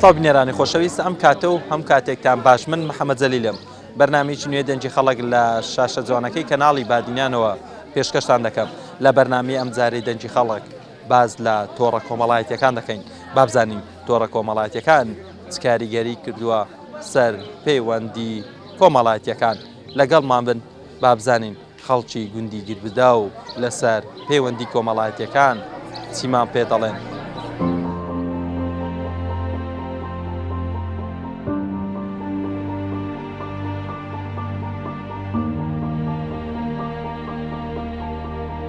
سڵاو بینێرانی خۆشەویست ئەم کاتە و هەم کاتێکتان باش من محەممەد جەلیلم بەرنمێکی نوێ دەنجی خەڵک لە شاشە جوانەکەی کەناڵی بادینانەوە پێشکەشتان دەکەم لە بەرنامی ئەم جارەی دەنجی خەڵک باس لە تۆڕە کۆمەڵایەتییەکان دەکەین، با بزانین تۆڕە کۆمەڵایەتییەکان چ کاریگەریی کردووە سەر پەیوەندی کۆمەڵایەتییەکان؟ لەگەڵمان بن با بزانین خەڵکی گوندی گربداو لەسەر پەیوەندی کۆمەڵایەتییەکان چیمان پێ دەڵێن.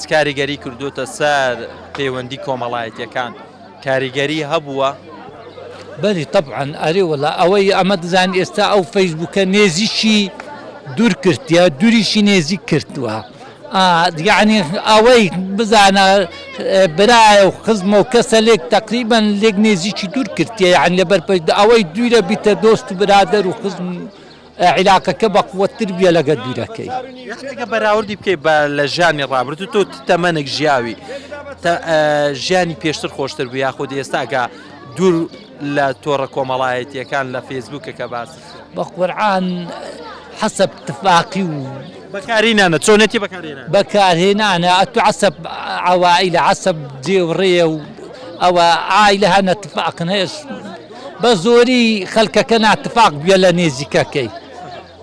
چ کاریگەری کردووتە سەر پەیوەندی کۆمەڵایەتیەکان کاریگەری هەبووە؟ بەلی تەبعەن ئەرێ وەلا ئەوەی ئەمە دزان ئێستا ئەو فەیسبوکە نێزیکی دوور کردە دوریشی نێزیک کردووە یعنی ئەوەی بزانە برایە و خزمە و کەسە لێک تقریبان لێک نێزیکی دوور کردە یان لەبەر ئەوەی دوورە بیتە دۆست و برادەر و خزم عیلاقەکە بە قوەت تر بیە لەگەر بیرەکەی. یانی ئەگە بەراوردی بکەی بە لە ژانی ڕابردو تۆ تەمەنێک ژیاوی ژیانی پێشتر خۆشتر بوو یاخود ئێستاگە دوور لە تۆڕە کۆمەڵایەتیەکان لە فێسبوکەکە باس بە قورعان حەسب تفاقی و بەکارینانە چۆنێتی بەکارێنە بەکارهێنانە ئەتو عسب عوائلە عسب جێوڕێ و ئەوە ئای لە هەنە تفاقنێش بە زۆری خەلکەکە ناتفاق بویە لە نێزیکەکەی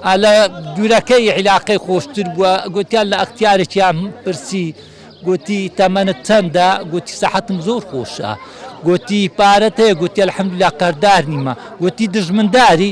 ئا لە دورەکەی عیلاقەی خۆشتر بوە گوتیان لە ئەختیارێکیان پرسی گوتی تەمەنت چەندە گوتی سەحەتم زۆر خۆشە گوتی پارەت هەیە گوتی الحمدلله قەردار نیمە گوتی دژمنداری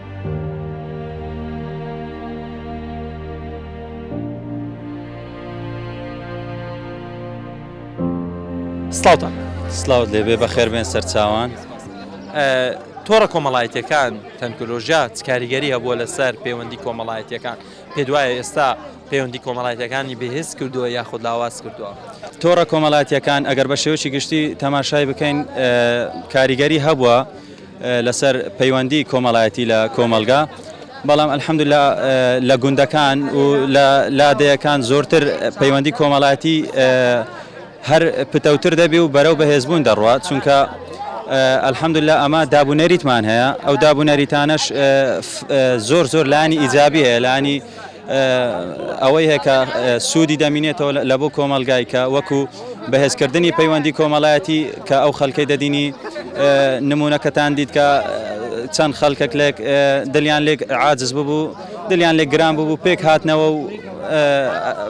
سڵاوتان سلااوت لێبێ بە خێربێن سەرچوان تۆڕە کۆمەڵایەتەکان تەنکۆلۆژیا چکاریگەری هەبووە لەسەر پەیوەندی کۆمەڵایەتەکان پێ دوایە ئێستا پەیوەندی کۆمەڵایەتەکانی بەهێز کردووە یاخود لاواز کردووە تۆڕە کۆمەڵاتیەکان ئەگەر بە شێوەی گشتی تەماشای بکەین کاریگەری هەبووە لەسەر پەیوەندی کۆمەڵایەتی لە کۆمەڵگا بەڵام الحمدللە لە گوندەکان و لە لادێیەکان زۆرتر پەیوەندی کۆمەڵایەتی هەر پتەوتر دەبی و بەرەو بەهێزبوون دەڕوات چونکە ئەلحەمدللا ئەمە دابونەریتمان هەیە ئەو دابونەریتانەش زۆر زۆر لانی ئیجابیە لانی ئەوەی هەیە کە سوودی دەمینێتەوە لە بۆ کۆمەڵگای کە وەکو بەهێزکردنی پەیوەندی کۆمەڵایەتی کە ئەو خەلکەی دەدینی نمونونەکەتان دیت کە چەند خەلکەک لێک دلیان لێک عاجز ببوو دلیان لێک گران ببوو پێک هاتنەوە و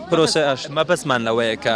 پرۆسەش مەبەسمان لەوەیە کە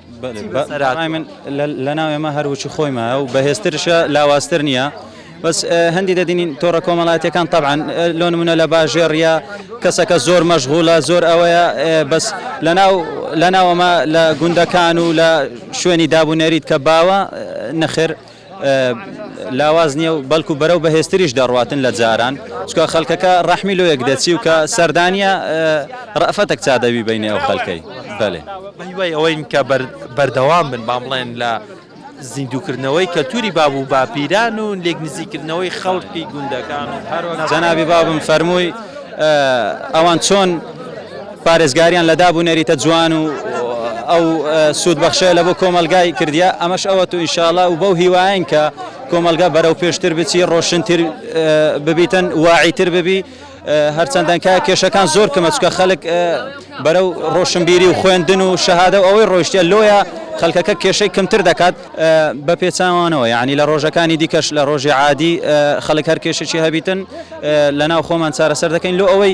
بەڕای من لەناو ئێمە هەر وشی خۆی مایە و بەهێزترشە لاوازتر نییە بەس هەندی دەدینین تۆڕە کۆمەڵاتەکان تەعاان لۆ نمونە لە باژێڕە کەسەکە زۆر مەشغولە زۆر ئەوەیە بەس لەناو لەناوەمە لە گوندەکان و لە شوێنی دابونەریت کە باوە نەخێر لاواز نیە و بەلکو بەرەو بەهێزتریش دەڕواتن لە جاران چکە خەلکەکە رەحمی لۆیەک دەچی و کە سەردانیە رەئفەتەک چا دەبی بەینێ ئەو خەلکەی بەلێ. بەهیوای ئەوەین کە بەردەوام بن با بڵێن لە زیندووکردنەوەی کەلتووری باب و باپیران و لێک نزیککردنەوەی خەڵکی گوندەکان و. جەنابی بابم فەرمووی ئەوان چۆن. پارێزگاریان لە داب و نەریتە جوان و ئەو سوود بەخشەیە لە بۆ کۆمەلگای کردیە ئەمەش ئەوەت و ئینشاڵا و بەو هیواین کە کۆمەلگا بەرەو پێشتر بچی ڕۆشنتر ببیتن واعیتر ببی هەرچەندەن کە کێشەکان زۆر کەمە چکە خەلک بەرەو ڕۆشنبیری و خوێندن و شەهادە و ئەوەی ڕۆیشتە لۆیە خەلکەکە کێشەی کەمتر دەکات بە پێچاوانەوە یانی لە ڕۆژەکانی دیکەش لە ڕۆژی عادی خەلک هەر کێشەکی هەبیتن لە ناو خۆمان چارەسەر دەکەین لۆ ئەوەی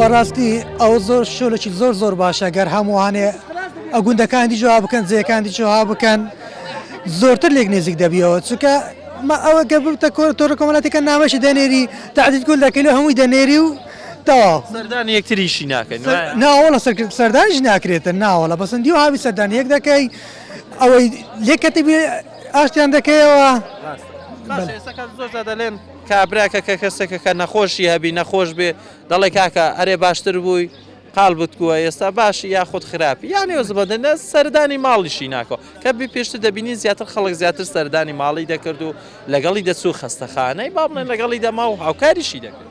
بەڕاستی ئەو زۆر شۆلێکی زۆر زۆر باشە گەر هەمووانێ ئە گوندەکانی جواب بکەن جێەکانی جوها بکەن زۆرتر لێک نێزیک دەبیەوە چکە ئەوە گە بتە کۆر تۆرە کۆمەلاتەکە ناوەشی دەنێری تاعدید گول دەکەی لە هەمووی دەنێری و تەواو سەردان یەکتریشی ناکەن ناوەڵە سەردانیش ناکرێتە ناوەڵە بەسەندی و هاوی سەردان یەک دەکەی ئەوەی لێکەتی بێ ئاشتیان دەکەیەوە باشە ئێستا کە زۆر جار دەلێن کابراکە کە کەسێکە کە نەخۆشی هەبی نەخۆش بێ دەڵێ کاکە ئەرێ باشتر بووی قال بتکووە ئێستا باشی یاخود خراپی یانێ و زبەدەنە سەردانی ماڵیشی ناکۆ کە بی پێشتر دەبینی زیاتر خەڵک زیاتر سەردانی ماڵی دەکرد و لەگەڵی دەچوو خەستەخانەی با بڵێن لەگەڵی دەما و هاوکاریشی دەکرد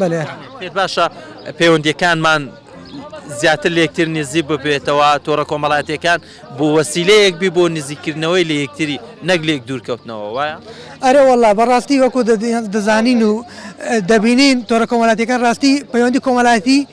بەلێ. پێت باشە پەیوەندییەکانمان زیاتر لە یەکتر نزیک ببێتەوە، تۆڕە کۆمەڵاتییەکان بۆ وەسیلەیەک بی بۆ نزیککردنەوەی لە یەکتری نەک لێک دوورکەوتنەوە وایە؟ ئەرێ وەڵڵا بە ڕاستی وەکوو دەزانین و دەبینین تۆڕە کۆمەڵاتییەکان ڕاستی پەیوەندی کۆمەڵایەتی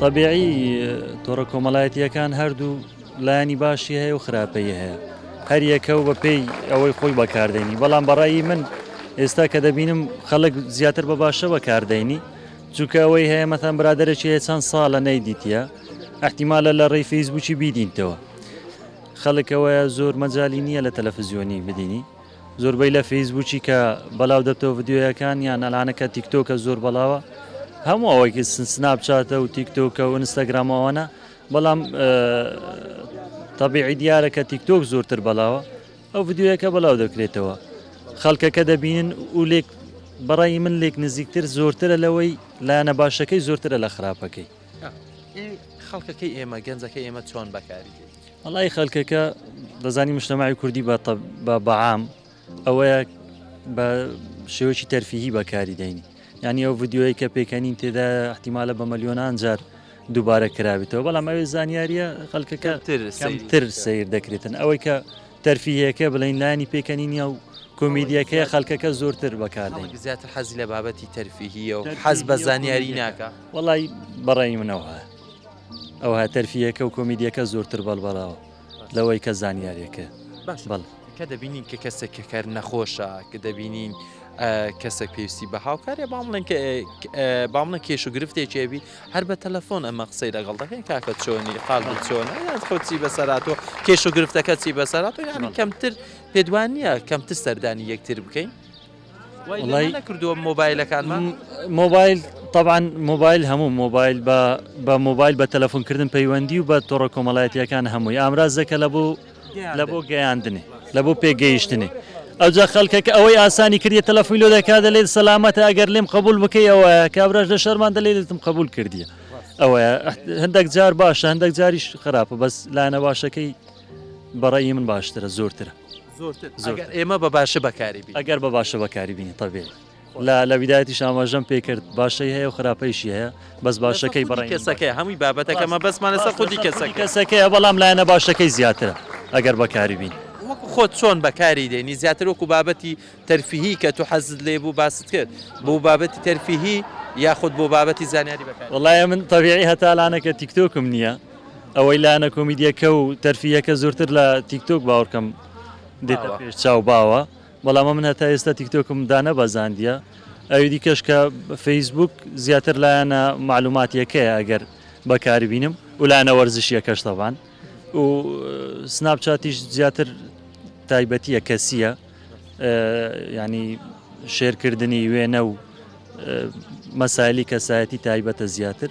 تەبیعی تۆڕە کۆمەڵایەتیەکان هەردوو لایانی باشی هەیە و خراپەی هەیە هەریەکە و بەپێی ئەوەی خۆی بەکاردێنی بەڵام بەڕایی من ئێستا کە دەبینم خەڵک زیاتر بە باشە بەکاردێنی چونکە ئەوەی هەیە مەتەن برادێکی هەیە چەند ساڵە نەیدیتە ئەحتیمالە لە ڕێی فەیسبووکی بیدینتەوە خەڵک ئەوەیە زۆر مەجای نییە لە تەلەفزیۆنی بدینی زۆربەی لە فەیسبووکی کە بەلاو دەبتەوە ڤیددیویەکان یان ئەلانەکە تیکتۆکە زۆر بەڵاوە هەموو ئەوەیکی سنسناپچاتە و تیکتۆکە و ئینستاگرامەوەە بەڵام تەبیعی دیارە کە تیکتۆک زۆرتر بەڵاوە ئەو ڤیددیوەکە بەلاو دەکرێتەوە خەڵکەکە دەبینن و لێک بەڕای من لێک نزیکتر زۆرترە لەوەی لایەنە باشەکەی زۆرترە لە خراپەکەی ئی خەڵکەکەی ئێمە گەنجەکەی ئێمە چۆن بەکاری دێت؟ وەڵای خەلکەکە دەزانی مشتەماعی کوردی بە بە بەعام ئەوەیە بە شێوەی تەرفیهی بەکاری دەین یعنی ئەو ڤیددیوەیە کە پێکەنین تێدا احتیمالە بە مەلیۆنان جار دووبارە کراویتەوە بەڵام ئەوێ زانیاریە خەلکەکە تر سیر دەکرێتن ئەوەی کە تەرفیهەکە بڵین لانی پێکەنینە و کۆمیدیەکەی خەلکەکە زۆرتر بەکاردەین زیاتر حەزی لە بابەتی تەرفیهیە و حەز بە زانیاری ناکە. وەڵای بەڕای منەوە ئەوها تەرفیەکە و کۆمیدیەکە زۆرتر بەڵبەڵاوە لەوەی کە زانیارێکە باش بەڵ کە دەبینین کە کەسێک کە کار نەخۆشە کە دەبینین کەسێک پێویستی بە هاوکارێ با بڵێن با بڵێن کێش و گرفتێکێبی هەر بە تەلەفۆن ئەمە قسەی لەگەڵ دەکەین کاکە چۆنی قال چۆنە یان خۆچی بەسەراتەوە کێش و گرفتەکە چی بەسەرات و یانی کەمتر پێدوان نییە کەمتر سەردانی یەکتر بکەین وەڵای کردووە مۆبایلەکانمان مۆبایل طبعاان مۆبایل هەموو مۆبایل بە مۆبایل بە تەلەفۆنکردن پەیوەندی و بە تۆڕە کۆمەڵایەتیەکان هەمووی ئامرازەکە لە بۆ لە بۆ گەیاندنی لە بۆ پێگەیشتنی ئەوجا خەڵکەکە ئەوەی ئاسانی کردی تەلەفۆی لۆ دەکا دەلێت سەلامەتە ئەگەر لێم قبول بکەی ئەوە کابراش لە شەرمان دەلێتم قبول کردیە ئەوە هەندێک جار باشە هەندێک جاریش خراپە بەس لاەنە باشەکەی بەڕی من باشترە زۆرترە زۆرتر ئەگەر ئێمە بە باشە بەکاری بینین. ئەگەر بە باشە بەکاری بینین طبیعی لە لە بدایەتیش ئاماژەم پێ کرد باشەی هەیە و خراپەیشی هەیە بەس باشەکەی بەڕای من باشە. لەسەر خودی کەسەکەیە هەمووی بابەتەکە مەبەستمان لەسەر خودی کەسەکەیە. لەسەر خودی کەسەکەیە بەڵام لایەنە باشەکەی زیاترە ئەگەر بەکاری بینی. وەکو خۆت چۆن بەکاری دێنی زیاتر وەکو بابەتی تەرفیهی کە تو حەزت لێ بوو باست کرد بۆ بابەتی تەرفیهی یاخود بۆ بابەتی زانیاری بەکاری دێنی؟ وەڵایە من طبیعی هەتا الانەکە تیکتۆکم نییە ئەوەی لایەنە کۆمیدیەکە و تەرفیهەکە زۆرتر لە تیک تۆک باوەڕکەم دێتە پێش چاو باوە بەڵام من هەتا ئێستا تیک تۆکم دانەبەزاندیە ئەوی دیکەش کە فەیسبوک زیاتر لایەنە معلوماتیەکەیە ئەگەر بەکاری بینم و لایەنە وەرزشیەکەش تەبان و سناپ چاتیش زیاتر تایبەتیە کەسیە ینی شێرکردنی وێنە و مەسایلی کەسایەتی تایبەتە زیاتر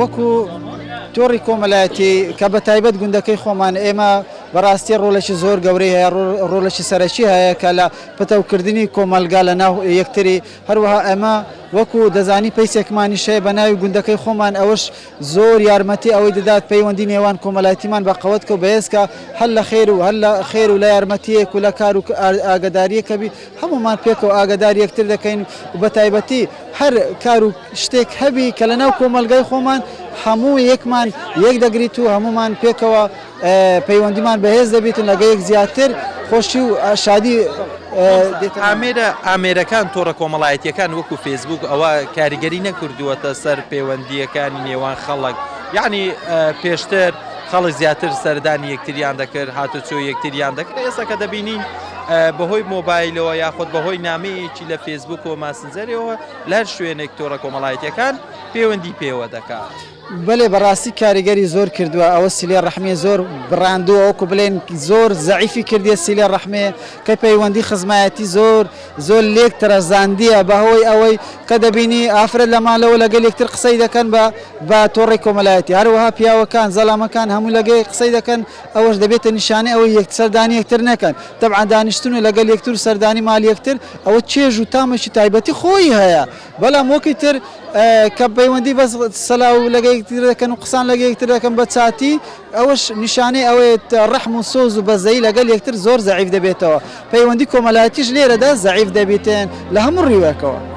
وەکو تۆڕی کۆمەلایەتی کە بە تایبەت گوندەکەی خۆمان ئێمە بەڕاستی ڕۆلێکی زۆر گەورەی هەیە ڕۆلێکی سەرەکی هەیە کە لە پتەوکردنی کۆمەلگا لە ناو یەکتری هەروەها ئەمە وەکو دەزانی پیسێکمانی شەیە بە ناوی گوندەکەی خۆمان ئەوش زۆر یارمەتی ئەوەی دەدات پەیوەندی نێوان کۆمەلایتیمان بە قەوەتکە و بەهێزکە، هەر لە خێر و هەر لە خێر و لە یارمەتییەک و لە کار و ئاگەدارییەکە بی هەموومان پێکەوە ئاگەداری یەکتر دەکەین و بە تایبەتی هەر کار و شتێک هەبی کە لە ناو کۆمەلگای خۆمان هەموو یەکمان یەک دەگریت و هەموومان پێکەوە پەیوەندیمان بەهێز دەبیت و لەگەیەک زیاتر خۆشی و شادی دێتە ئامێرە ئامێرەکان تۆڕە کۆمەڵایەتیەکان وەکو فێسبوک ئەوە کاریگەری نەکردووەتە سەر پەیوەندیەکانی نێوان خەڵک یعنی پێشتر خەڵک زیاتر سەردانی یەکتریان دەکرد هاتوچۆ یەکتریان دەکرد ئێستا کە دەبینین بەهۆی مۆبایلەوە یاخود بەهۆی نامەیەکی لە فێسبوک و ماسنجەرەوە لە هەر شوێنێک تۆڕە کۆمەڵایەتەکان پەیوەندی پێوە دەکات. بەلێ بەراستی کاریگەری زۆر کردوە ئەوە سیلێ رەحمیە زۆر براندوە وەکو بلێن زۆر زەعیفی کردیە سیلێ رەحمێ کە پەیوەندی خزمایەتی زۆر زۆر لێک ترەزاندیە بە هۆی ئەوەی کە دەبینی ئافرەت لە مالەوە لەگەل یەکتر قسەی دەکەن بە بە تۆڕەی کۆمەلایەتی هەروەها پیاوەکان زەلامەکان هەموو لەگە یەک قسەی دەکەن ئەوەش دەبێتە نیشانەی ئەوەی یەک سەردانی یەکتر نەکەن تەبعەن دانیشتن و لەگەل یەکتر و سەردانی مال یەکتر ئەوە چێژ و تامەکی تایبەتی خۆی هەیە بەلام وەکی تر کە پەیوەندی بەس سلاو لەگە یەکتر دەکەن و قسان لەگە یەکتر دەکەن بە چاتی ئەوەش نیشانەی ئەوەیت رەحم و سۆز و بەزەیی لەگەل یەکتر زۆر زەعیف دەبێتەوە پەیوەندی کۆمەلایەتیش لێرەدا زەعیف دەبیتن لە هەموو ریوەکەوە.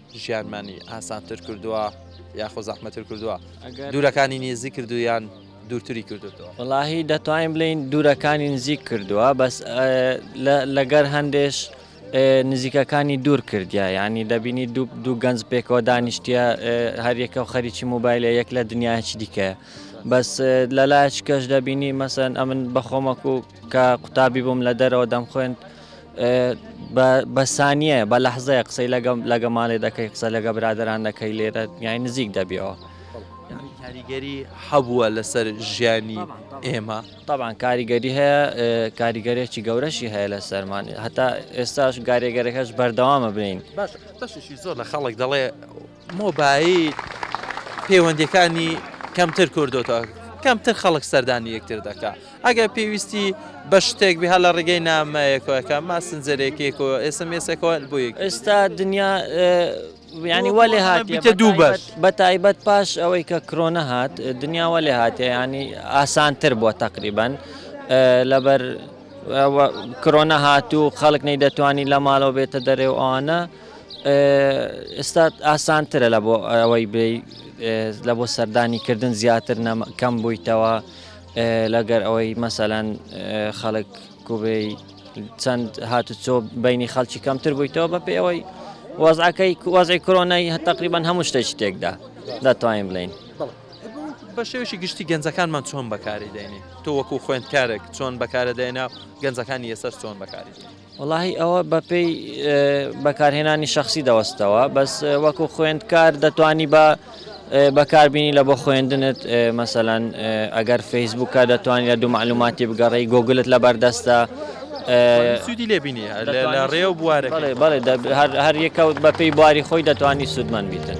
ژیانمانی ئاسانتر کردووە یاخۆ زەحمەتر کردووە دوورەکانی نێزی کردویان دوورتری کردوەوە وڵاهی دەتوانین بڵین دوورەکانی نزیک کردووە بەس لەگەر هەندێش نزیکەکانی دوور کردیا ینی دەبینی دوو دوو گەنج پێکەوە دانیشتە هەریەکە و خەریکی موبایلە یەک لە دنیاچ دیکە بەس لەلایچ کەش دەبینی مەسەن ئەمن بەخۆمەک و کە قوتابی بووم لە دەرەوە دەم خوێند بە سانیە بە لەحزەیە قسەی لەگەم لەگە ماڵێ دەکەی قسە لەگە برادران دەکەی لێرە یای نزیک دەبیەوە کاریگەری حەبووە لەسەر ژیانی ئێمە طبعاان کاریگەری هەیە کاریگەرێکی گەورەشی هەیە لە سەرمان هەتا ئێستاش گارێگەرەکەش بەردەوامە بین بەشی زۆر لە خەڵک دەڵێ مۆبایل پەیوەندیەکانی کەمتر کردۆتە کەمتر خەڵک سەردانی یەکتر دەکا ئەگەر پێویستی بە شتێک بها لە ڕێگەی نامەیەکەکە ماسنجەرێکێک و ئێسمێسەکەەوە بۆ یەک ئێستا دنیا ینی وە لێ هاتیتە دوو بەش بە تایبەت پاش ئەوەی کە کرۆنە هات دنیاوە لێ هااتێ ینی ئاسانتر بووە تقریبان لەبەر کرۆنە هاتوو خەڵک نەی دەتوانانی لە ماڵەوە بێتە دەرێ و ئەوانە ئێستا ئاسانترە لە بۆ ئەوەی بێی لە بۆ سەردانی کردن زیاتر کەم بوویتەوە لەگەر ئەوەی مەسەەن خەڵک کوبێی چەند هاتوچۆ بینی خەڵکی کەمتر بوویتەوە بە پێ ئەوەی وەزعەکەی وەزعی کرۆنای هە تقریبان هەموو شتێک شتێکدا دەتوانین بڵین. بە شێوشی گشتی گەنجەکانمان چۆن بەکاری دێنین تۆ وەکو خوێندکارێک چۆن بەکارە دێنا گەنجەکانی ئێسەر چۆن بەکاری. وەڵاهی ئەوە بە پێی بەکارهێنانی شەخسی دەوەستەوە بەس وەکو خوێندکار دەتوانی بە بەکاربیینی لە بۆ خوێندنت مەسەەن ئەگەر فەیسبووکە دەتوانانی لە دوو معلوماتی بگەڕی گۆگلت لە بەردەستە سوودی لێبینی لە ڕێ و بوارە بەڵێ هەر یەکەوت بە پێی بواری خۆی دەتوانانی سوودمەند بیتن.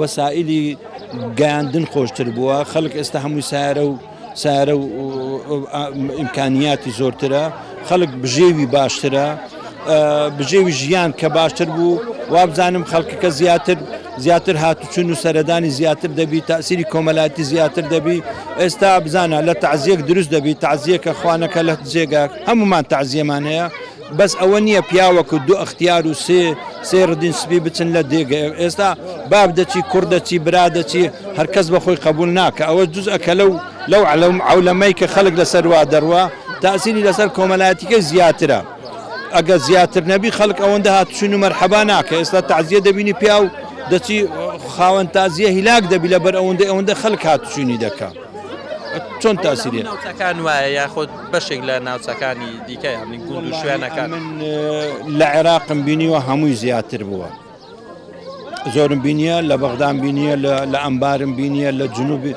وەسائیلی گەیاندن خۆشتر بووە خەلک ئێستا هەمووی سارە و سارە و ئیمکانیاتی زۆرترە خەلک بژێوی باشترە بژێوی ژیان کە باشتر بوو وابزانم خەلکەکە زیاتر زیاتر هاتوچون و سەردانی زیاتر دەبی تاسیری کۆمەلاتی زیاتر دەبی ئێستا بزانە لە تعزیەک دروست دەبی تعزیەکە خوانەکە لە جێگا هەمومان تعزیەمان هەیە بەس ئەوە نیە پیاوەکو دو ئەختیار و سێ سێ ردین سپی بچن لە دێگە ئێستا باب دەچی کوڕ دەچی برا دەچی هەر کەس بە خۆی قەبول ناکە ئەوە جوز ئەکە لەو لەو عەولەمەی کە خەلک لە سەر وا دەروا تاسیری لە سەر کۆمەلایەتیکەی زیاترە ئەگە زیاتر نەبی خەلک ئەوەندە هات چون و مەرحەبا ناکە ئێستا تازیە دەبینی پیاو دەچی خاوەن تازیە هیلاک دەبی لە بەر ئەوەندە ئەوەندە خەلک هات چونی دەکا. چۆن تاسیری ناوچەکان وایە یاخود بەشێک لە ناوچەکانی دیکە یامی گوند و شوێنەکان من لە عێراقم بینیوە هەمووی زیاتر بووە زۆرم بینیە لە بەغدام بینیە لە ئەمبارم بینیە لە جنوبی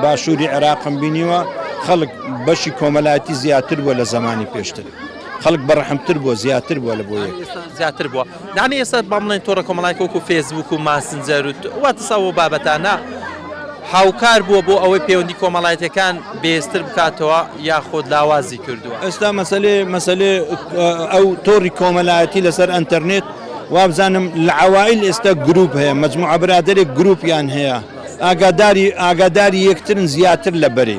باشووری عێراقم بینیوە خەڵک بەشی کۆمەلاتی زیاتر بووە لە زمانی پێشتر خەڵک بەڕحمتر بووە زیاتر بووە لە بۆ زیاتر بووە دەعمی ئێستا با بڵێن تۆڕە کۆمەڵایەتیەکە وەکو فێسبووک و ماسنجەر و واتس ئەو بابەتانە هاوکار بووە بۆ ئەوەی پەیوەندی کۆمەڵایەتیەکان بێزتر بکاتەوە یاخود لاوازی کردووە. ئێستا مەسەلێ مەسەلێ ئەو تۆڕی کۆمەلایەتی لەسەر ئەنتەرنێت وابزانم لە عەوائیل ئێستا گروپ هەیە مەجموعە برادەرێک گروپیان هەیە ئاگاداری ئاگاداری یەکترن زیاتر لە بەرێ.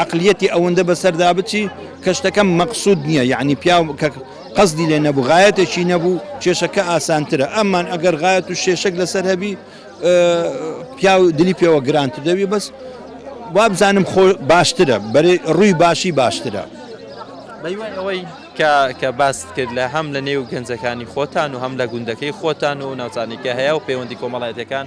عەقلیەتی ئەوەندە بەسەردا بچی کە شتەکە مەقسود نیە یعنی پیاو کە قەزدی لێ نەبوو غایەتێکی نەبوو کێشەکە ئاسانترە ئەمان ئەگەر غایەت و شێشک لەسەر هەبی پیاو دلی پێوە گرانت دەوی بەس وابزانم خۆ باشترە بەرێ ڕووی باشی باشترە بەیوان ئەوەی کە باست کرد لە هەم لە نێو گەنجەکانی خۆتان و هەم لە گوندەکەی خۆتان و ناوچانێکە هەیە و پەیوەندی کۆمەڵایەتەکان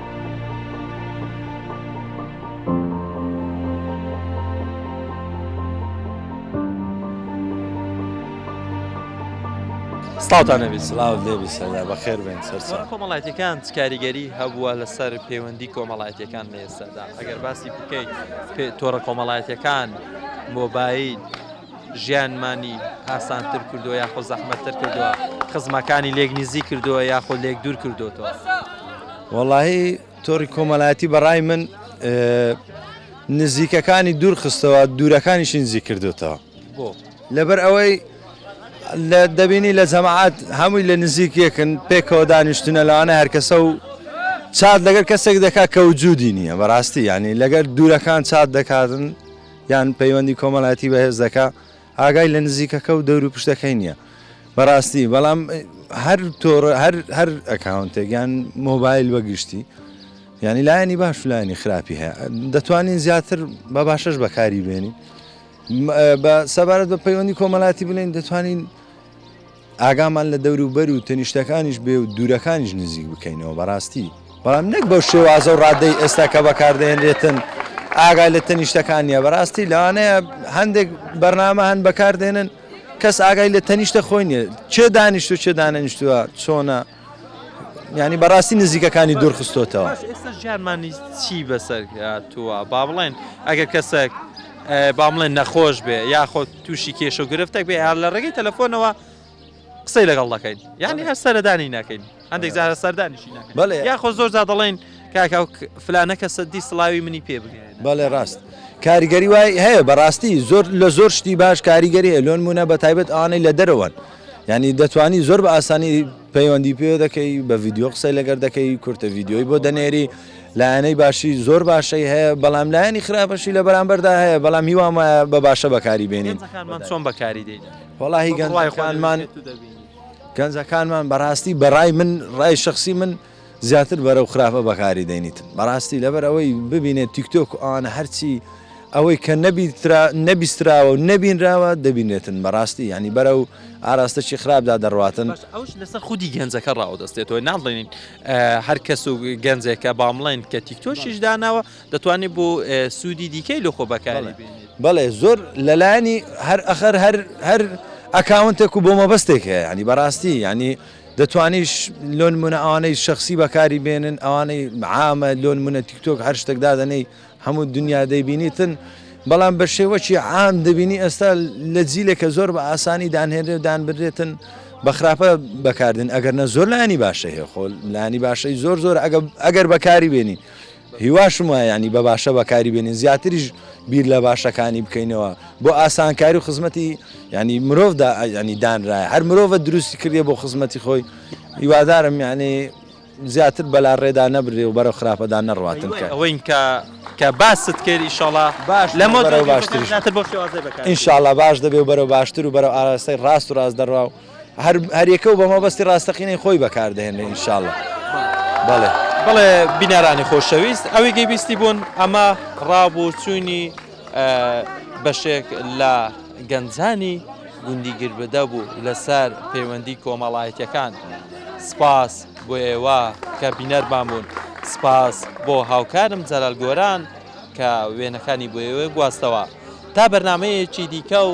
سڵاوتان نەبی سلااو لێبی سەردا بەخێر بێن سەر کۆمەڵاتەکان کاریگەری هەبووە لەسەر پەیوەندی کۆمەڵاتەکان لە ئێستادا ئەگەر باسی بکەیت تۆڕە کۆمەڵاتەکان مۆبایل ژیانمانی ئاسانتر کردووە یاخۆ زەحمەتتر کردووە، خزمەکانی لێک نزیک کردووە یاخۆ لێک دوور کردووەتەوە؟ وەڵاهی تۆڕی کۆمەلایەتی بەڕای من نزیکەکانی دوور خستەوە دوورەکانیشی نزیک کردوێتەوە لەبەر ئەوەی لە دەبینی لە جەماعات هەمووی لە نزیک یەکن پێکەوە دانیشتنە لەوانە هەرکەسە و چات لەگەر کەسێک دەکات کە وجودی نییە بەڕاستی ینی لەگەر دوورەکان چات دەکاتن یان پەیوەندی کۆمەلایەتی بەهێز دەکا ئاگای لە نزیکەکە و دەور و پشتەکەی نییە بەڕاستی بەڵام هەر تۆڕ هەر ئەکاونتێکیان مۆبایل بەگشتی ینی لایەنی باش لایەنی خراپی هەیە دەتوانین زیاتر بە باشەش بەکاری بێنی بە سەبارەت بە پەیوەندی کۆمەلاتی بڵێن دەتوانین ئاگامان لە دەوروبەر و تەنیشتەکانیش بێ و دوورەکانیش نزیک بکەینەوە بەڕاستی، بەڵام نەک بەو شێوازە و ڕادەی ئێستا کە بەکاردەهێنرێتن ئاگا لە تەنیشتەکان نیە، بەڕاستی لەوانەیە هەندێک بەرنامە هەن بەکاردێنن کەس ئاگای لە تەنیشتە خۆی نیە، کێ دانیشتوە کێ دانەنیشتوە چۆنە؟ یانی بەڕاستی نزیکەکانی دوورخستۆتەوە. باش ئێستاش گیانمانی چی بەسەر هاتووە با بڵێن ئەگەر کەسەک با بڵێن نەخۆش بێ یاخۆ تووشی کێشە و گرفتەک بێ هەر لە ڕێگەی تەلەفۆنەوە قسەی لەگەڵ دەکەین یانی هەر سەردانی ناکەین هەندێک جارە سەردانیشی ناکەین بەڵێ یاخۆ زۆر جا دەڵێن کاکە فلانە کەسە دی سڵاوی منی پێ بگێ بەڵێ ڕاست کاریگەری وای هەیە بەڕاستی زۆر لە زۆر شتی باش کاریگەری هەیە لۆ نموونە بە تایبەت ئەوانەی لە دەرەوەن یانی دەتوانی زۆر بە ئاسانی پەیوەندی پێ دەکەی بە ڤیددیو قسەی لەگەر دەکەی کورتە ڤیددیۆی بۆ دەنێری لایەنەی باشی زۆر باشەی هەیە بەڵام لایەنی خراپەشی لە بەرامبەردا هەیە بەڵام هیوام وایە بە باشە بەکاری بێنین چۆن بەکاری دێت وڵی گەڵایخوانمان گەنجەکانمان بەڕاستی بەڕای من ڕای شخصی من زیاتر بەرەو خراپە بەکاری دەینیت بەراستی لەبەر ئەوەی ببینێت تیکتۆک و ئەوانە هەرچی ئەوەی کە نەبیترا نەبیستراوە و نەبینراوە دەبینێتن بەراستی یانی بەرەو ئاراستەکی خراپدا دەڕواتن باش ئەوش لەسەر خودی گەنجەکە ڕاوەدەستێتەوە ناڵێنین هەر کەس و گەنجێکە بامڵێن کە تیکتۆکیش داناوە دەتوانێت بۆ سوودی دیکەی لۆ خۆ بەکاری بێنێت. بەڵێ زۆر لەلایەنی هەر ئەخەر هەر هەر ئەکاونتێک و بۆ مەبەستێک هەیە یانی بەراستی یانی دەتوانیش لۆ نمونە ئەوانەی شەخسی بەکاری بێنن ئەوانەی عامە لۆ نمونە تیکتۆک هەر شتێک دادەنەی هەموو دنیا دەیبینیتن بەڵام بە شێوەکی عام دەبینی ئێستا لە جیلێکە زۆر بە ئاسانی دانهێنرێ و دانبرێتن بە خراپە بەکاردن ئەگەر نە زۆر لانی باشە هەیە خۆل لانی باشەی زۆر زۆر ئەگەر بەکاری بێنی هیواشم وایە یانی بە باشە بەکاری بێنین زیاتریش بیر لە باشەکانی بکەینەوە بۆ ئاسانکاری و خزمەتی ینی مرۆڤدا ینی دانرایە هەر مرۆڤە دروستی کردێ بۆ خزمەتی خۆی هیوادارم یانێ زیاتر بەلا ڕێدا نەبرێ و بەرەو خراپەدا نەڕاتن کە ئەوین کە کە باست کرد ئیشاڵا باش لەمە باشتر بۆ انشاءله باش دەبێ و بەرەو باشتر و بەرەو ئاراستەی ڕاست و ڕاست دەڕوا و هەریەکە و بە مەبەستی ڕاستەقینەی خۆی بەکاردەهێنێ ئینشاڵڵا بەڵێ بڵێ بینەرانی خۆشەویست ئەوی گەی بیستی بوون ئەمە ڕابوو چوینی بەشێک لە گەنجانی گوندی گربدە بوو لەسەر پەیوەندی کۆمەڵایەتەکان سپاس بۆ ئێوە کە بینەرمان بوون سپاس بۆ هاوکارم جەلال گۆران کە وێنەکانی بۆ ئێوە گواستەوە تا بەرنمەیەکی دیکە و